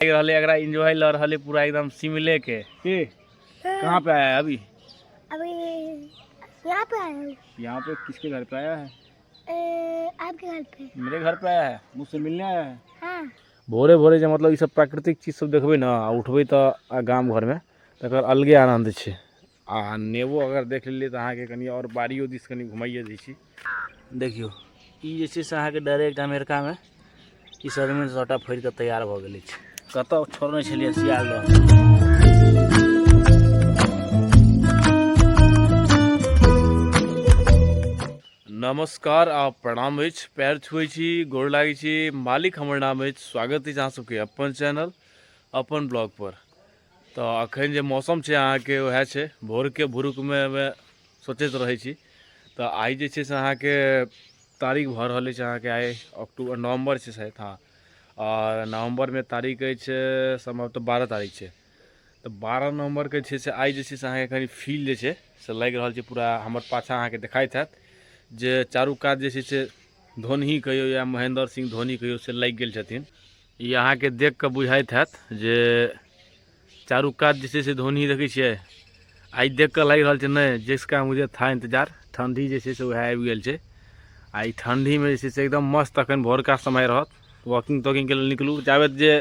लागि रहलै एकरा एंजॉय लऽ रहलै पूरा एकदम शिमले के की कहाँ पे आया है अभी अभी यहाँ पे आया हूँ यहाँ पे किसके घर पे आया है अ, आपके घर पे मेरे घर पे आया है मुझसे मिलने आया है हाँ भोरे भोरे जे मतलब ई सब प्राकृतिक चीज सब देखबै ने आ उठबै तऽ आ गाम घरमे तकर अलगे आनन्द छै आ नेबो अगर देख लेलियै तऽ अहाँके कनि आओर बाड़ियो दिस कनि घुमाइए दै छी देखियौ ई जे छै से अहाँके डायरेक्ट अमेरिकामे ई सजमनि सभटा फड़ि कऽ तैयार भऽ गेल अछि कतय छोड़ने छलियै सियाल नमस्कार आ प्रणाम अछि पैर छुए छी गोर लागै छी मालिक हमर नाम अछि स्वागत अछि अहाँ सबके अपन चैनल अपन ब्लॉग पर तऽ अखन जे मौसम छै अहाँके उएह छै भोरके भुरुकमे सोचैत रहै छी तऽ आइ जे छै से अहाँके तारीख भऽ रहल अछि अहाँके आइ अक्टूबर नवम्बर छै शायद हँ आओर नवम्बरमे तारीख अछि सम्भवतः बारह तारीख छै तऽ बारह नवम्बरके छै से आइ जे छै से अहाँके कनि फील जे छै से लागि रहल छै पूरा हमर पाछा अहाँके देखाइत हैत जे चारू कात जे छै से धोनही कहियौ या महेन्द्र सिंह धोनी कहियौ से लागि गेल छथिन ई अहाँके देख कऽ बुझाइत हैत जे चारू कात जे छै से धोनी देखै छियै आइ देख कऽ लागि रहल छै नहि जिसका मुझे था इन्तजार ठण्डी जे छै से उएह आबि गेल छै आ ई ठण्डीमे जे छै से एकदम मस्त अखन भोरका समय रहत वॉकिंग तॉकिंगके लेल निकलू जाबे जे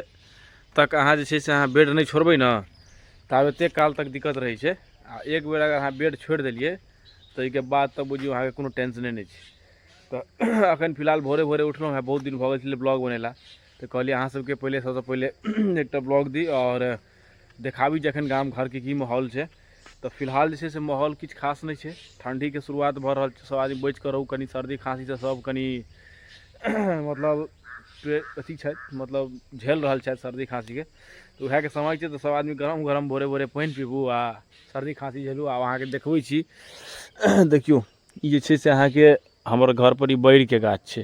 तक अहाँ जे छै से अहाँ बेड नहि छोड़बै ने ताबेते काल तक दिक्कत रहै छै आ एक बेर अगर अहाँ बेड छोड़ि देलियै ताहिके बाद तऽ बुझियौ अहाँके कोनो टेंशने नहि छै तऽ अखन फिलहाल भोरे भोरे उठलहुँ हँ बहुत दिन भऽ गेल छलै ब्लॉग बनेला तऽ कहलियै अहाँ सबके पहिले सबसँ पहिले एकटा ब्लॉग दी आओर देखाबी जे एखन गाम घरके की माहौल छै तऽ फिलहाल जे छै से माहौल किछु खास नहि छै ठण्डीके शुरुआत भऽ रहल छै सब आदमी बचि कऽ रहू कनि सर्दी खाँसीसँ सब कनि मतलब अथी छथि मतलब झेल रहल छथि सर्दी खाँसीके तऽ उएहके समय छै तऽ सब आदमी गरम गरम भोरे भोरे पानि पीबू आ सर्दी खाँसी झेलू आब अहाँके देखबै छी देखियौ ई जे छै से अहाँके हमर घरपर ई बैरके गाछ छै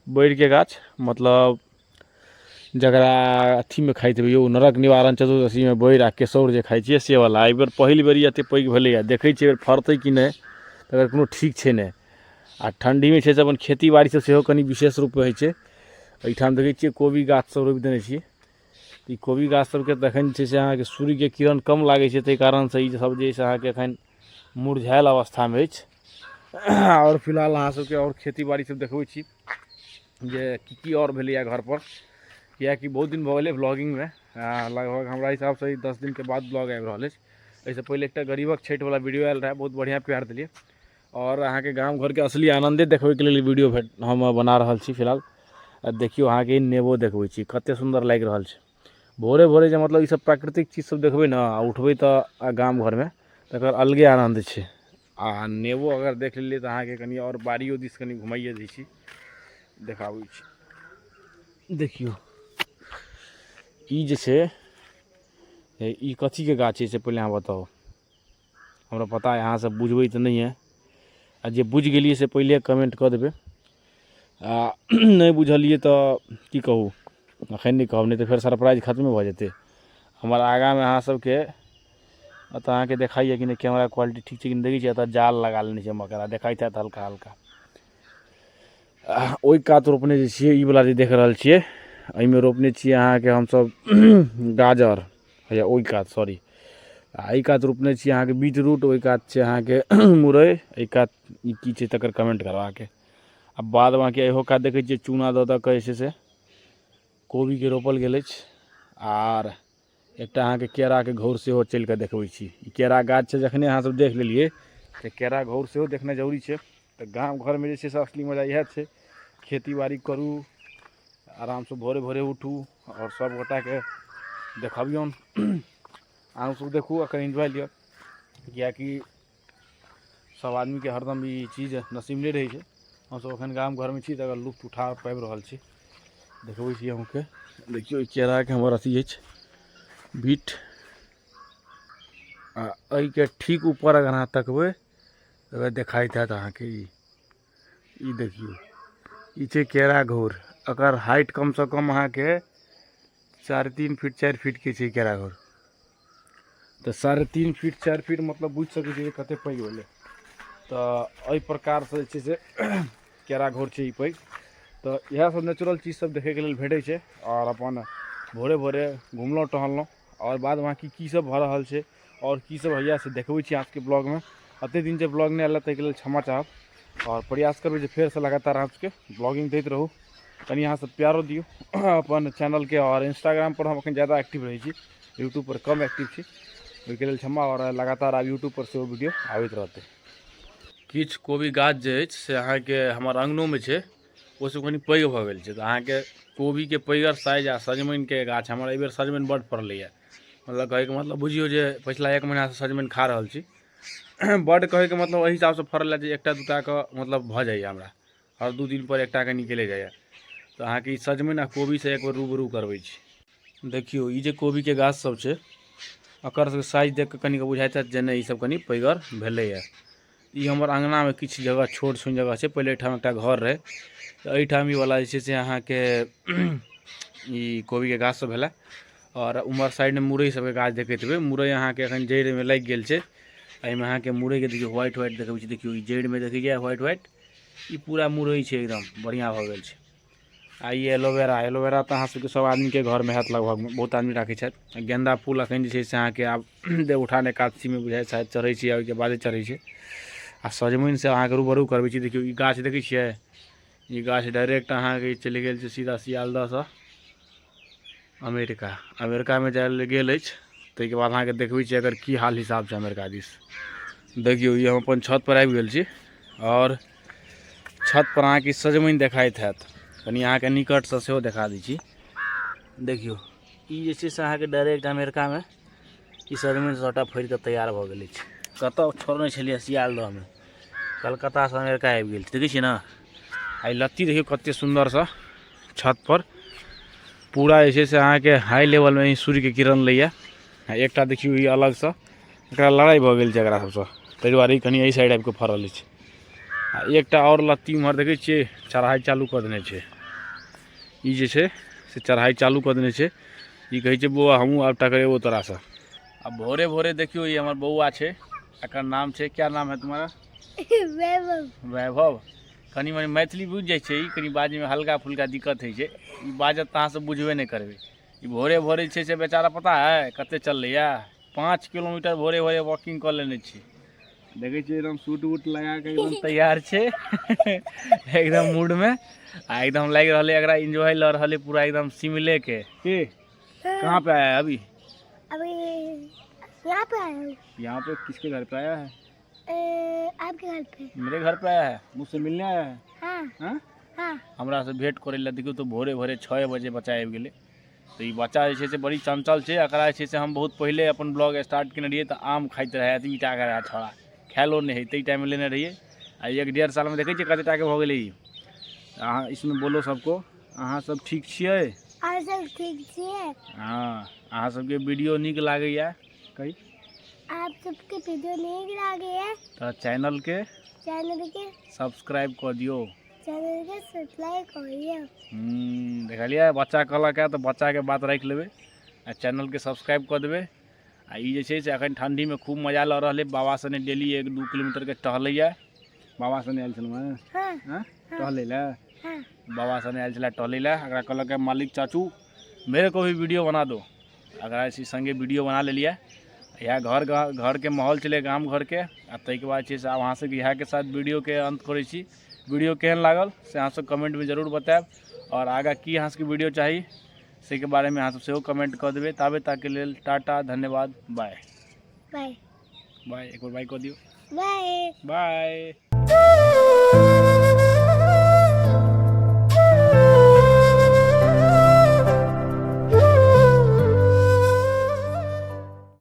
बैरके गाछ मतलब जकरा अथीमे खाइत हेबै यौ नरक निवारण चतुर्दशीमे बैर आ केसौर जे खाइ छियै से वला एहि बेर पहिल बेर ई एतेक पैघ भेलैए देखै छियै फड़तै कि नहि तकर कोनो ठीक छै नहि आ ठण्ढीमे छै से अपन खेती बाड़ीसभ सेहो कनि विशेष रूपमे होइ छै एहिठाम देखै छियै कोबी गाछसभ रोपि देने छियै ई कोबी गाछसभके तखन छै से अहाँके सूर्यके किरण कम लागै छै ताहि कारणसँ ईसभ जे छै से अहाँके एखन मुरझायल अवस्थामे अछि आओर फिलहाल अहाँ सबके आओर खेती बाड़ी सब देखबै छी जे की की आओर भेलैए घरपर किएकि बहुत दिन भऽ गेलै ब्लॉगिंगमे लगभग हमरा हिसाबसँ ई दस दिनके बाद ब्लॉग आबि रहल अछि एहिसँ पहिले एकटा गरीबक छठिवला वीडियो आयल रहए बहुत बढ़िआँ प्यार देलियै आओर अहाँके गाम घरके असली आनन्दे देखबैके लेल वीडियो हम बना रहल छी फिलहाल देखियौ अहाँके नेबो देखबै छी कतेक सुन्दर लागि रहल छै भोरे भोरे जे मतलब ईसब प्राकृतिक चीज सब देखबै ने आओर उठबै तऽ आओर गाम घरमे तकर अलगे आनन्द छै आओर नेबो अगर देख लेलियै तऽ अहाँके कनी आओर बाड़ियो दिस कनी घुमाइए दै छी देखाबै छी देखियौ ई जे छै ई कथीके गाछ छै से पहिले अहाँ बताउ हमरा पता अहाँ सब बुझबै तऽ नहिये आ जे बुझि गेलियै से पहिले कमेंट कऽ देबै आ नहि बुझलियै तऽ की कहू अखन नहि कहब नहि तऽ फेर सरप्राइज खतमे भऽ जेतै हमर आगाँमे अहाँ सबके एतऽ अहाँके देखाइए कि नहि कैमरा क्वालिटी ठीक छै कि देखै छियै एतऽ जाल लगा लेने छै मकड़ा देखाइत हैत हल्का हल्का ओहि कात रोपने जे छियै ई बला जे देख रहल छियै एहिमे रोपने छियै अहाँके हमसब गाजर हैया ओहि कात सॉरी आ एहि कात रोपने छी अहाँके बीट रूट ओहि कात छै अहाँके मुरइ एहि कात ई की छै तकर कमेंट करब अहाँके आ बाद बाँकी इहो कात देखै छियै चूना दऽ दऽ कऽ जे छै से कोबीके रोपल गेल अछि आर एकटा अहाँके केराके घौर सेहो चलि कऽ देखबै छी ई केरा गाछ छै जखने अहाँसभ देख लेलियै तऽ केरा घौर सेहो देखनाइ जरूरी छै तऽ गाम घरमे जे छै से असली मजा इएह छै खेती बाड़ी करू आरामसँ भोरे भोरे उठू आओर सब गोटाके देखबियौन अहूँ सब देखू एकर एन्जॉय लिअ किएकि सब आदमीके हरदम ई चीज नसीब नहि रहै छै हमसब एखन गाम घरमे छी तकर लुत्फ उठा पाबि रहल छी देखबै छी अहूँके देखियौ ई केराके हमर अथी अछि बीट आ एहिके ठीक ऊपर अगर अहाँ तकबै तऽ देखाइत हैत अहाँके ई ई देखियौ ई छै केरा घोर एकर हाइट कमसँ कम अहाँके साढ़े तीन फीट चारि फीटके छै केरा घोर तऽ साढ़े तीन फीट चारि फीट मतलब बुझि सकै छियै कतेक पैघ भेलै तऽ एहि प्रकारसँ जे छै से केरा घोर छै ई पैघ तऽ इएहसभ नेचुरल चीजसभ देखैके लेल भेटै छै आओर अपन भोरे भोरे घुमलहुँ टहलहुँ आओर बाद बाँकी की सब भऽ रहल छै आओर की सब होइए से देखबै छी अहाँके ब्लॉगमे एतेक दिन जे ब्लॉग नहि आयल ताहिके लेल क्षमा चाहब आओर प्रयास करबै जे फेरसँ लगातार अहाँके ब्लॉगिंग दैत रहू कनि अहाँसभ प्यारो दियौ अपन चैनलके आओर इंस्टाग्रामपर हम एखन ज्यादा एक्टिव रहै छी यूट्यूबपर कम एक्टिव छी ओहिके लेल क्षमा आओर लगातार आब यूट्यूबपर सेहो वीडियो आबैत रहतै किछु कोबी गाछ जे अछि से अहाँके हमर अङ्गनोमे छै ओहिसँ कनि पैघ भऽ गेल छै तऽ अहाँके कोबीके पैघर साइज आ सजमनिके गाछ हमर एहिबेर सजमनि बड्ड फड़लैए मतलब कहैके मतलब बुझियौ जे पछिला एक महीनासँ सजमनि खा रहल छी बड्ड कहैके मतलब एहि हिसाबसँ फड़ल जे एकटा दूटाके मतलब भऽ जाइए हमरा हर दू दिनपर एकटाके निकले जाइए तऽ अहाँके ई सजमनि आ कोबीसँ एक बेर रूबरू करबै छी देखियौ ई जे कोबीके गाछसभ छै एकर साइज देख कऽ कनिक बुझाइत हैत जे नहि ईसभ कनि पैघर भेलैए ई हमर अँगनामे किछु जगह छोट सुन जगह छै पहिले एहिठाम एकटा घर रहै तऽ एहिठाम ई वाला जे छै से अहाँके ई कोबीके गाछ सब भेलै आओर उमहर साइडमे मुरइ सबके गाछ देखैत हेबै मुरइ अहाँके एखन जड़िमे लागि गेल छै एहिमे अहाँके मुरइके देखियौ व्हाइट व्हाइट देखबै छी देखियौ ई जड़िमे देखै छियै व्हाइट व्हाइट ई पूरा मुरइ छै एकदम बढ़िआँ भऽ गेल छै आ ई एलोवेरा एलोवेरा तऽ अहाँ सबके सब आदमीके घरमे हैत लगभगमे बहुत आदमी राखै छथि गेन्दा फूल अखन जे छै से अहाँके आब देवउठान एकादशीमे बुझाइए शायद चढ़ै छै ओइके बादे चढ़ै छै आ सजमनिसँ अहाँके रूबरू करबै छी देखियौ ई गाछ देखै छियै ई गाछ डाइरेक्ट अहाँके चलि गेल छै सीधा सियालदहसँ अमेरिका अमेरिकामे जाय लेल गेल अछि ताहिके बाद अहाँके देखबै छी अगर की हाल हिसाब छै अमेरिका दिस देखियौ ई हम अपन छतपर आबि गेल छी आओर छतपर अहाँके सजमनि देखाइत हैत कनि अहाँके निकटसँ सेहो देखा दै छी देखियौ ई जे छै से अहाँके डायरेक्ट अमेरिकामे ई सजमनि सभटा फड़ि कऽ तैयार भऽ गेल अछि कतय छोड़ने छलियै सियालदहमे कलकत्तासँ अमेरिका आबि गेल देखै छियै ने आ लत्ती देखियौ कतेक सुन्दरसँ छतपर पूरा जे छै से अहाँके हाई लेवलमे ही सूर्यके किरण लैए आ एकटा देखियौ ई अलगसँ एकरा लड़ाइ भऽ गेल छै एकरा सभसँ ताहि दुआरे ई कनि एहि साइड आबि कऽ फड़ल अछि आ एकटा आओर लत्ती उम्हर देखै छियै चढ़ाइ चालू कऽ देने छै ई जे छै से चढ़ाइ चालू कऽ देने छै ई कहै छै बौआ हमहूँ आब टकरेबो तोरासँ आ भोरे भोरे देखियौ ई हमर बौआ छै एकर नाम छै क्या नाम है तुम्हारा वैभव वैभव कनि मनि मैथिली बुझि जाइ छै ई कनि बाजैमे हल्का फुल्का दिक्कत होइ छै ई बाजत तऽ अहाँसभ बुझबे नहि करबै ई भोरे भोरे जे छै से बेचारा पता है कतेक चललैए पाँच किलोमीटर भोरे भोरे वॉकिंग कऽ लेने छी देखै छियै एकदम सूट वूट लगा कऽ एकदम तैयार छै एकदम मूड में आ एकदम लागि रहल है एकरा एंजॉय लऽ रहल है पूरा एकदम शिमले के के कहाँ पे आया है अभी अभी यहाँ पे आया हूँ यहाँ पे किसके घर पे आया है ए, आपके घर पे मेरे घर पे आया है मुझसे मिलने आया है हाँ हाँ हाँ हमरा से भेंट करे ला देखियो तो भोरे भोरे छः बजे बच्चा आबि गेलै तऽ ई बच्चा जे छै से बड़ी चञ्चल छै एकरा जे छै से हम बहुत पहिले अपन ब्लॉग स्टार्ट केने रहियै तऽ आम खाइत रहै एतबी टाके रहै छोड़ा खायलो नहि हेतै टाइममे लेने रहियै आ एक डेढ़ सालमे देखै छियै कतेक टाके भऽ गेलै ई अहाँ इसमे बोलो सबको अहाँ सब ठीक छियै अहाँ सब ठीक छियै हँ अहाँ सबके वीडियो नीक लागैए कही आप सबके वीडियो नीक लागैए तऽ चैनलके चैनलके सब्सक्राइब कऽ दियौ देखलियै बच्चा कहलक है तऽ बच्चाके बात राखि लेबै आ चैनलके सब्सक्राइब कऽ देबै आ ई जे छै से एखन ठण्डीमे खूब मजा लऽ रहल अइ बाबा सने डेली एक दू किलोमीटरके टहलैए बाबा सने आयल छलहुँ हेँ हाँ, हाँ? हाँ। टहलै लए हाँ। बाबा सने आयल छलै टहलै लए एकरा कहलक है मालिक चाचू मेरे को भी वीडियो बना दो एकरा ऐसी संगे वीडियो बना लेलियै इएह घर घरके माहौल छलै गाम घरके आ ताहिके बाद छै से अहाँ सबके इएहके साथ वीडियोके अन्त करै छी वीडियो केहन लागल से अहाँसभ कमेंटमे जरूर बतायब आओर आगाँ की अहाँसभके वीडियो चाही से के बारे में अहाँ सब सेहो कमेंट कर देवे ताबे ताके लेल टाटा धन्यवाद बाय बाय बाय एक बार बाय कर दियो बाय बाय